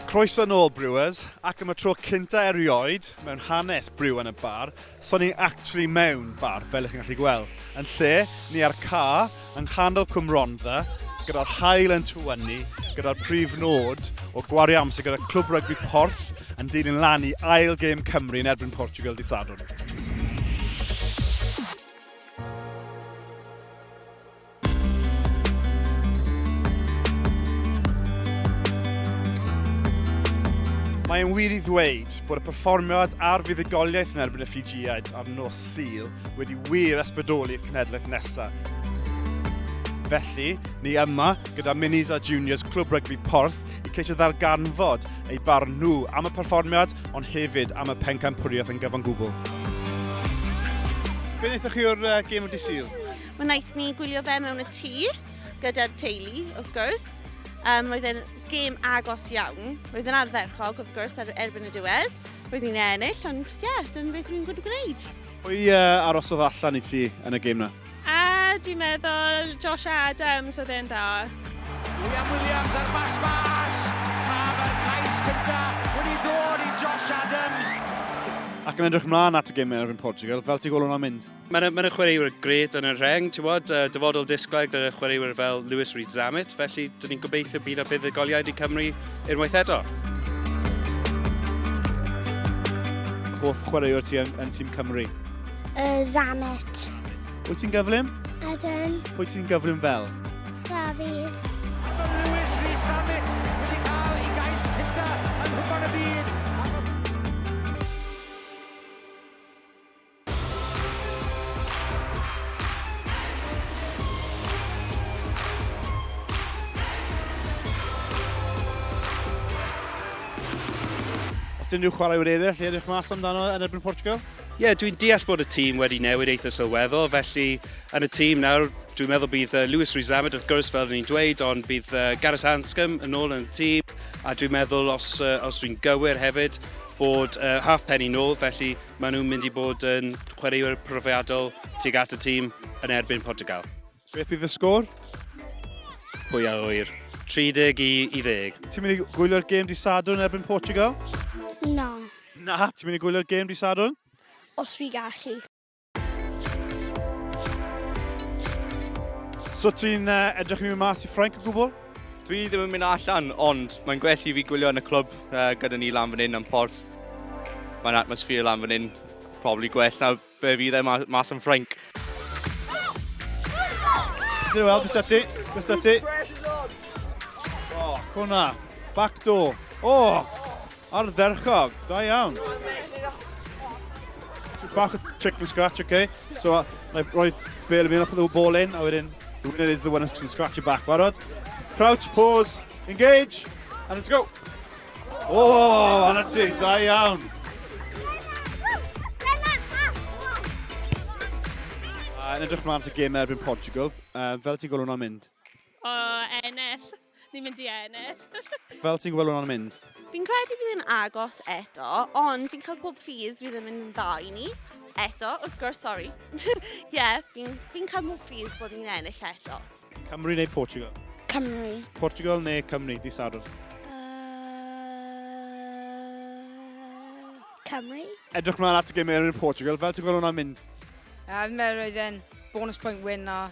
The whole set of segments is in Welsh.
Croeso yn ôl Brewers, ac am y tro cynta erioed mewn hanes Brew yn y Bar, so ni actually mewn bar, fel ych chi'n gallu gweld. Yn lle, ni ar ca, yng nghanol Cwm Rondda, gyda'r hael yn tywynnu, gyda'r prif nod o gwario amser gyda Clwb Rygbi Porth yn dilyn lan i ail gêm Cymru yn erbyn Portugal di Sadwrn. Mae'n wir i ddweud bod y perfformiad a'r fuddugoliaeth yn erbyn y Ffijiaid ar nos Sul wedi wir ysbrydoli'r cenhedlaeth nesaf. Felly, ni yma gyda Minis a Juniors Clwb Rygbi Porth i ceisio ddarganfod eu barn nhw am y perfformiad ond hefyd am y pencampwriaeth yn gyfan gwbl. Be wnaethoch chi o'r uh, gêm o dydd Sul? Wnaeth ni gwylio fe mewn y tŷ, gyda'r teulu, wrth gwrs. Um, roedd e'n gêm agos iawn. Roedd yn ardderchog, wrth gwrs, ar erbyn y diwedd. Roedd ni'n ennill, ond ie, yeah, dyna beth rwy'n gwybod gwneud. Pwy uh, arosodd allan i ti yn y gêm na? A, dwi'n meddwl, Josh Adams oedd e'n dda. William Williams ar bas bas. Pa mae'r cais cynta wedi dod i Josh Adams. Ac yn edrych mlaen at y gêm erbyn Portugal, fel ti gwylwn o'n mynd? Mae yna, mae yna chwaraewyr gret yn y rheng, ti'n bod, uh, dyfodol disglair gyda chwaraewyr fel Lewis Reed Zammit, felly dyn ni'n gobeithio bydd y buddugoliaid i Cymru unwaith eto. Hoff chwaraewr ti yn, yn tîm Cymru? Uh, Zammit. Wyt ti'n gyflym? Ydyn. Wyt ti'n gyflym fel? David. Lewis Reed Zammit wedi cael ei gais cynta yn hwpan y byd. Os unrhyw chwaraewyr eraill i edrych mas amdano yn erbyn Portugal? Ie, yeah, dwi'n deall bod y tîm wedi newid eitha sylweddol, felly yn y tîm nawr, dwi'n meddwl bydd uh, Lewis Rizamed wrth gwrs fel ni'n dweud, ond bydd uh, Gareth Anscombe yn ôl yn y tîm, a dwi'n meddwl os, uh, os dwi'n gywir hefyd, bod uh, half penny nôl, felly Maen nhw'n mynd i bod yn chwaraewyr profiadol tuag at y tîm yn erbyn Portugal. Beth bydd y sgôr? Pwy a ŵyr? 30 i, i 10. Ti'n mynd i gwylio'r gêm di Sadwrn erbyn Portugal? Na. Na? Ti'n mynd i gwylio'r gêm di Sadwrn? Os fi gallu. So ti'n uh, edrych i mi mas i Ffrainc o gwbl? Dwi ddim yn mynd allan, ond mae'n gwell i fi gwylio yn y clwb uh, gyda ni lan fan hyn am porth. Mae'n atmosffer lan fan hyn, probably gwell na be fydd e mas yn Ffrainc. Dyn nhw weld, bys ti, bys ti. O, oh, hwnna, backdoor. O, oh, Ardderchog, da iawn. Bach o trick from scratch, okay. So, uh, na i roi bel i mi, o'ch ddw bol in, a wedyn, the winner is the one who's scratch your back, barod. Crouch, pause, engage, and let's go. Oh, anna ti, da iawn. Yn edrych mlaen at y gêm erbyn Portugal, uh, fel ti'n gweld hwnna'n mynd? O, ennill. Ni'n mynd i ennill. Fel ti'n gwybod hwnna'n mynd? Fi'n credu bydd yn agos eto, ond fi'n cael pob ffydd fydd yn mynd yn dda i ni. Eto, wrth gwrs, sori. Ie, yeah, fi'n fi cael pob ffydd bod ni'n ennill eto. Cymru neu Portugal? Cymru. Portugal neu Cymru, di Sadwrn? Cymru. Edrych mlaen at y gymau yn Portugal, fel ti'n gweld hwnna'n mynd? A, fi'n meddwl roedd e'n bonus point win a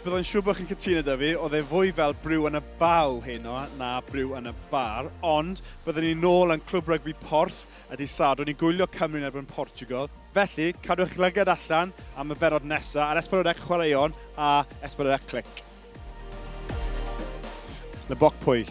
Byddai'n siŵr bod chi'n cytuno da fi, oedd e fwy fel Brew yn y Baw heno na Brew yn y Bar, ond byddwn ni'n nôl yn Clwb Rygbi Porth y dydd Sadwrn i gwylio Cymru yn erbyn Portugal. Felly, cadw eich lygad allan am y bennod nesaf ar Esbonydec Chwaraeon a Esbonydec Clic. Le boc pwyll.